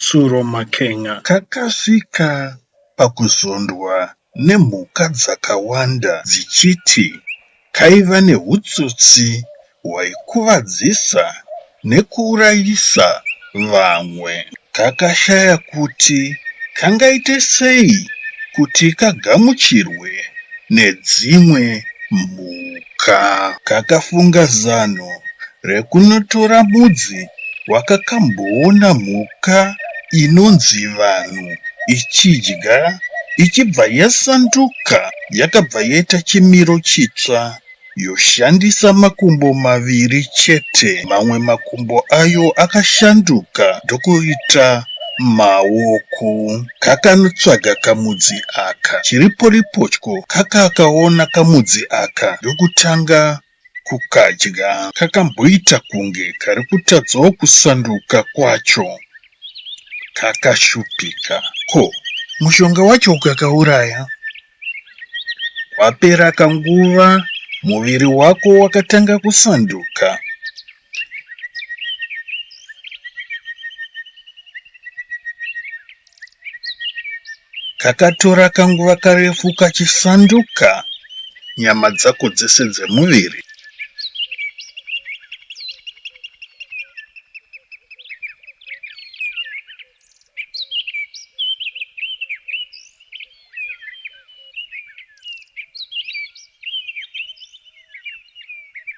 Tsuro Makenga kakasvika pakuzondwa nemhuka dzakawanda dzichiti kaiva nehutsotsi hwaikuvadzisa nekuurayisa vamwe kakashaya kuti kangaite sei kuti kagamuchirwe nedzimwe mhuka. ka kakafunga zano rekunotora mudzi wakakamboona mhuka inonzi vanhu ichidya ichibva yasanduka yakabva yaita chimiro chitsva yoshandisa makumbo maviri chete mamwe makumbo ayo akashanduka ndokuita maoko kakanotsvaga kamudzi aka chiriporipotyo kakakaona kamudzi aka ndokutanga kukadya kakamboita kunge kari kutadzawo kusanduka kwacho kakashupika ko mushonga wacho ukakauraya kwapera kanguva muviri wako wakatanga kusanduka Kakatora kanguva karefu kachisanduka nyama dzako dzese dzemuviri.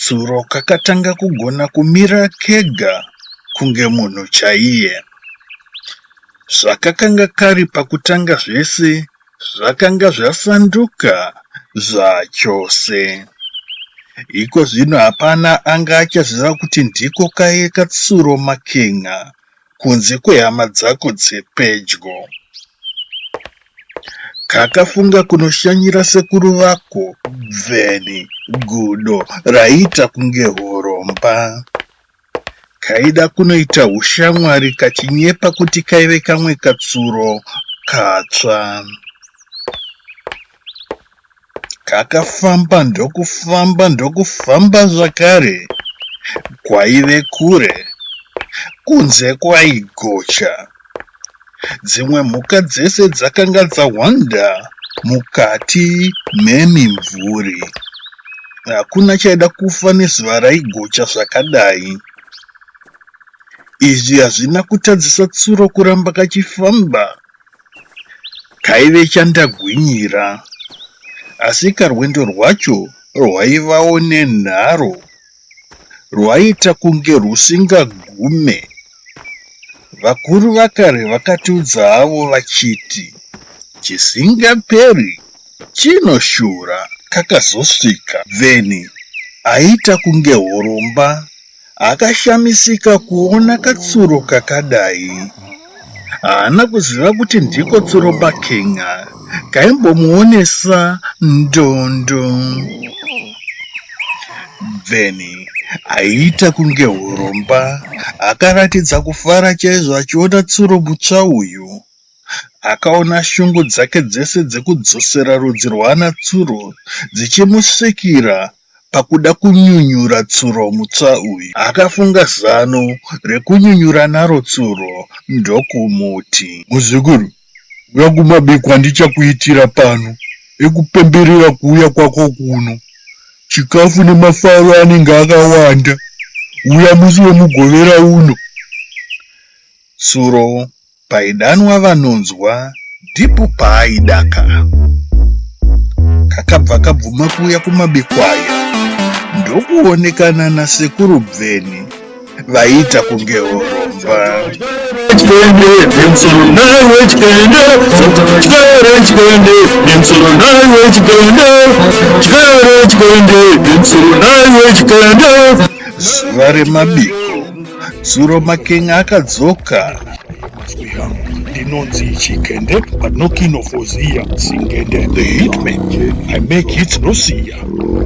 Tsuro kakatanga kugona kumira kega kunge munhu chaiye. Zvakakanga kari pakutanga zvese zvakanga zvasanduka zvachose. Iko zvino hapana anga achaziva kuti ndiko kaiye katsuro makenga kunze kwehama dzako dzepedyo. Kakafunga kunoshanyira sekuru vako Bveni gudo raiita kunge horomba. Kaida kunoita hushamwari kachinyepa kuti kaive kamwe katsuro katsva. Takafamba ndokufamba ndokufamba zvakare kwaive kure kunze kwaigocha dzimwe mhuka dzese dzakanga dzahwanda mukati memimvuri hakuna chaida kufa nezuva raigocha zvakadai izvi hazvina kutadzisa tsuro kuramba kachifamba Kaive chandagwinyira asi karwendo rwacho rwaivawo nenharo rwaiita kunge rwusingagume. Vakuru vakare vakatiudza havo vachiti chisingaperi chinoshura kakazosvika then aiita kunge horomba Akashamisika kuona katsuro kakadai. Haana kuziva kuti ndiko tsuro paKenya kaimbomuonesa ndondo. Bveni aiita kunge huromba akaratidza kufara chaizvo achiona tsuro mutsva uyu. Akaona shungu dzake dzese dzekudzosera rudzi rwaana tsuro dzichimusvikira pakuda kunyunyura tsuro mutsva uyu. Akafunga zano rekunyunyura naro tsuro ndokumuti. Muzukuru, huya kumabikwa ndichakuitira pano ekupemberera kuuya kwako kuno. Chikafu nemafaro anenge akawanda. Huya musi weMugovera uno. Tsuro Paidanwa vanonzwa dhipu paaidaka. Kakabva kabvuma kuuya kumabekwaya ndokuonekana nasekuru Bveni vaiita kunge horomba. Zuva remabiko Zuro Making akadzoka. Ndinonzi Chikende, but no king of Oziya, Singende. The hitman, I make hits no siya.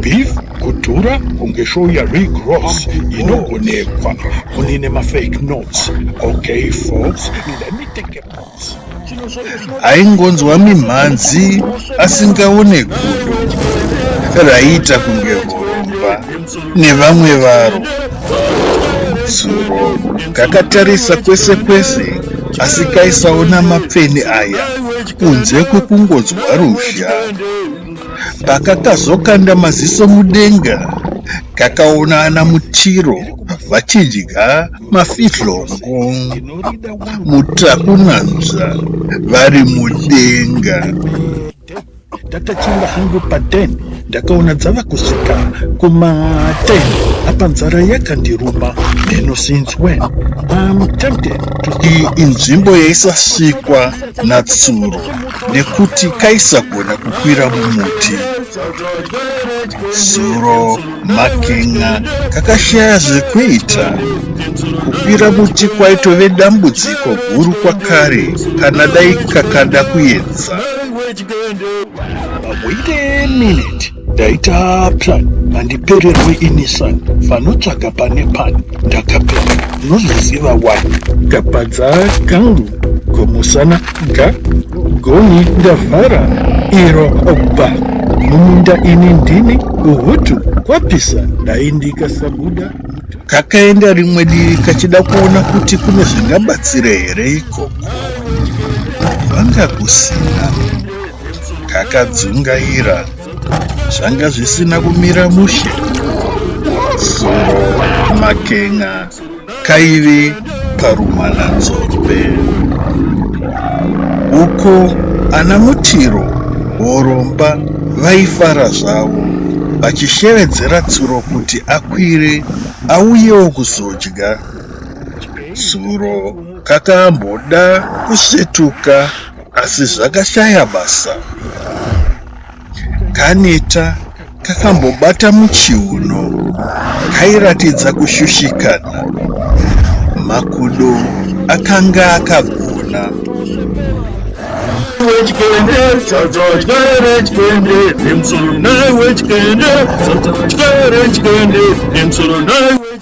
Beef, kudhura kunge show ya Rick Ross inogonekwa munine mafake notes. Okay folks, let me take a aingonzwa mimhanzi asingaone gudo raiita kunge horomba nevamwe varo zuro kakatarisa kwese kwese asi kaisaona mapfeni aya kunze kwekungonzwa ruzha pakakazokanda maziso mudenga kakaona ana mutiro vachidya Mafihlo ngo mutakunanzva vari mudenga. Ndakachimba hangu paden ndakaona dzava kusvika kumaten apa nzara yakandiruma meno since when I'm tempted to Iyi inzvimbo yaisasvikwa natsuro nekuti kaisagona kukwira mumuti. Tsuro Makin'a kakashaya zvekuita. Kukwira muti kwaitove dambudziko guru kwakare kana dai kakada kuedza. Wait a minute. Ndaita plan mandipererwe inisan vanotsvaga pane pani ndakapera unozoziva wani. Kapadza kangu komusana Nda goni ndavhara iro obva mumunda ini ndini uhutu kwapisa dai ndikasabuda kakaenda rimwe divi kachida kuona kuti kune zvingabatsira here ikoko vanga kusina kakadzungaira zvanga zvisina kumira mushe zuro makenga kaive paRumananzombe uko ana Mutiro Horomba vaifara zvavo vachishevedzera Tsuro kuti akwire auyewo kuzodya. Tsuro kakamboda kusvetuka asi zvakashaya basa. Kaneta kakambobata muchiuno kairatidza kushushikana. Makudo akanga akagona.